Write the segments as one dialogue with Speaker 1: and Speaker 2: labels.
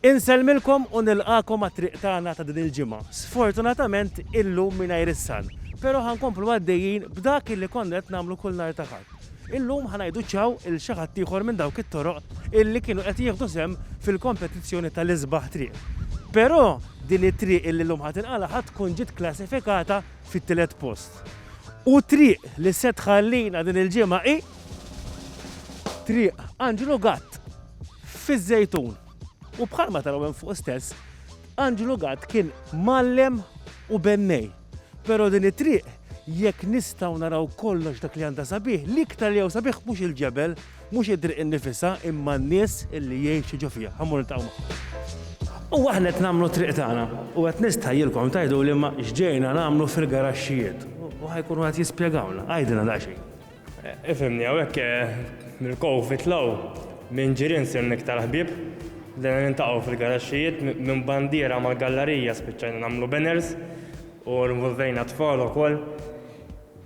Speaker 1: Insellmilkom u nilqagħkom għat-triq tagħna ta' din il-ġimgħa, sfortunatament illum mingħajr is-San, pero ħa nkomplu għaddejjin b'dak illi konna qed nagħmlu kull nhar ta' Ħadd. Illum ħa ngħidu ċaw 'l xi ħadd ieħor minn dawk it-toroq illi kienu qed jieħdu sehem fil-kompetizzjoni tal-isbaħ triq. Pero din it-triq illi llum ħa tinqala' ħa tkun ġiet klassifikata fit-tielet post. U t-triq li se tħallina din il-ġimgħa hi triq Anġlu Gatt. fiż-Żejtun. U bħalma taraw hemm fuq stess, Anġlu Gatt kien mgħallem u bennej. Però din it-triq jekk nistgħu naraw kollox dak li għandha sabiħ, l-iktar li hawn sabiħ mhux il-ġebel, mhux it-triq innifisha, imma n-nies li jgħixu ġo fiha. Ħa mmur niltaqgħu magħhom. U aħna qed nagħmlu t-triq tagħna u qed nistħajjilkom tgħiduli imma x'ġejna nagħmlu fil-garaxxijiet. U ħa jkunu qed jispjegawlna. Għidilna daqsxejn. Ifimni
Speaker 2: hawnhekk mill-COVID law minn ġirien sirna iktar ħbieb. Bdejna nintaqgħu fil-garaxxijiet minn bandiera mal-gallarija spiċċajna nagħmlu banners u nvolvejna tfal ukoll.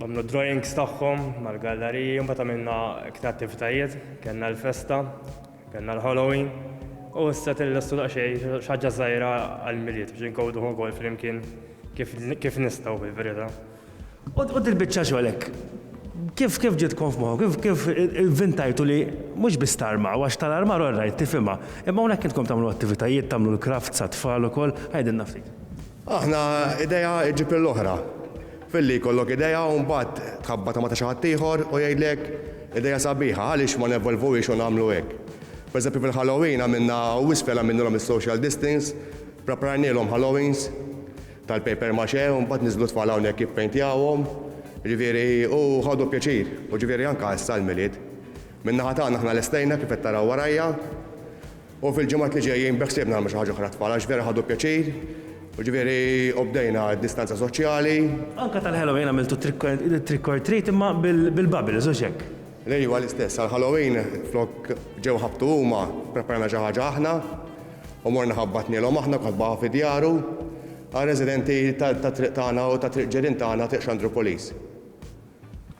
Speaker 2: Għamlu drawings tagħhom mal-gallariji, mbagħad għamilna iktar attivitajiet, kellna l-festa, kellna l-Halloween u issa tillestu daqsxejn xi ħaġa żgħira għall-Milied biex inkowduh ukoll flimkien kif nistgħu fil-verità. U
Speaker 1: dil-biċċa xogħol hekk kif kif ġitkom f'moħħu, kif kif vintajtu li mhux biss tarmaw, għax tal-armar all right tifhimha, imma hawnhekk intkom tagħmlu attivitajiet, tagħmlu l-crafts għat-tfal ukoll, għidilna ftit. Aħna
Speaker 3: idea iġġib lill-oħra. Filli jkollok idea u mbagħad tħabbatha ma' ta' xi ħadd ieħor u jgħidlek idea sabiħa, għaliex ma nevolvuhiex u nagħmlu hekk. Pereżempju fil-Halloween għamilna u iżfel għamilnilhom is-social distance, ppreparajnielhom Halloweens, tal-paper mache u mbagħad niżlu tfal hawnhekk jippejntjawhom, jiġifieri u ħadu pjaċir, u jiġifieri anke issa għall-Milied. Min-naħa tagħna aħna lestejna kif qed taraw warajja u fil-ġimgħat li ġejjin beħsiebna nagħmlu xi ħaġa oħra għat-tfal għax vera ħadu pjaċir, u jiġifieri u bdejna d-distanza soċjali. Anke tal-Halloween
Speaker 1: għamiltu trick or treat imma bil-bubbles, hux hekk? L-iva l-istess,
Speaker 3: għall-Halloween flok ġew ħabtu huma, ppreparajna xi ħaġa aħna, U morna ħabbatnielhom aħna kotbaha fi djaru għar-residenti tat-triq tagħna u ta' triq ġirien tagħna, Triq Xandru Police.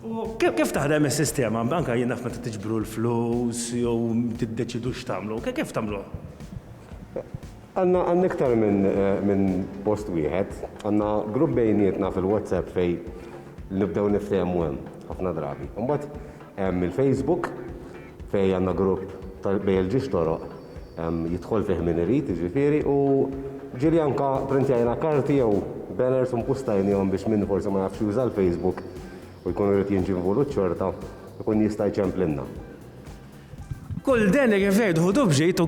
Speaker 1: U kif taħdem is-sistema? Anke jien naf meta tiġbru l-flus jew tiddeċidu x'tagħmlu. Kif tagħmluh? Għandna
Speaker 4: iktar minn post wieħed. Għandna grupp bejnietna fil-WhatsApp fejn nibdew niftehmu hemm ħafna drabi. Imbagħad Hemm il-Facebook fejn għandna grupp bejn il-ġiex toroq jidħol fih min irid jiġifieri u ġieli anke printjajna karti jew banners u mpostajnihom biex min forsi ma jafx juża l-Facebook u jkun irid jinġi involut xorta jkun jista' jċemplilna.
Speaker 1: Kull delega kif ngħidu ħudu b'ġid u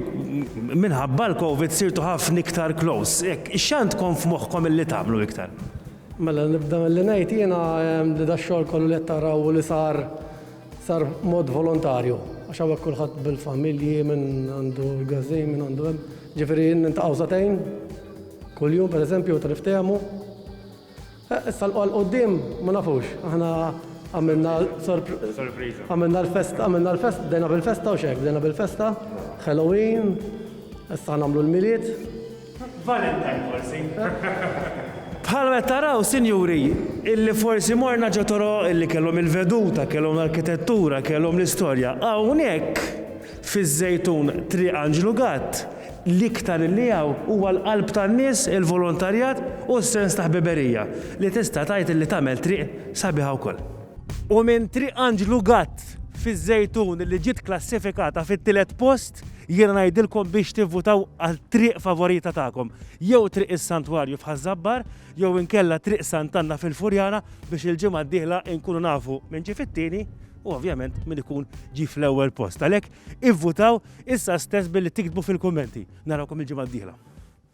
Speaker 1: minħabba l-Covid sirtu ħafna iktar close. Hekk, x'għandkom f'moħħkom illi tagħmlu iktar? Mela nibda
Speaker 5: milli ngħid jiena li dax-xogħol kollu li qed taraw u li sar, sar b'mod volontarju. Għax hawnhekk kulħadd bil-familji, min għandu l-gazin, min għandu hemm. Ġifieri niltaqgħu sagħtejn kuljum pereżempju meta niftehmu. Eh, issa l quddiem ma nafux, aħna għamilna sorpriża. Għamilna l-festa, għamilna l-festa, bdejna bil-festa u xek, bdejna bil-festa, Halloween, issa nagħmlu l-milied,
Speaker 1: Valentine forsi. Bħal qed taraw, sinjuri, illi forsi morna ġo toroq illi kellhom il-veduta, kellhom l-arkitettura, kellhom l-istorja, hawnhekk fiż-Żejtun Triq Anġlu Gatt, l-iktar illi hawn huwa l-qalb tan-nies, il-volontarjat u s-sens ta' ħbiberija li tista' tgħid illi tagħmel triq sabiħa wkoll. U minn Triq Anġlu Gatt fiż-Żejtun illi ġiet klassifikata fit-tielet post, Jiena ngħidilkom biex tivvutaw għat-triq favorita tagħkom, jew Triq is-Santwarju f'Ħaż-Żabbar, jew inkella Triq Sant'Anna fil-Furjana biex il-ġimgħa d-dieħla inkunu nafu min ġie fit-tieni u ovvjament min ikun ġie fl-ewwel post. Għalhekk ivvutaw issa stess billi tiktbu fil-kummenti. Narawkom il-ġimgħa d-dieħla.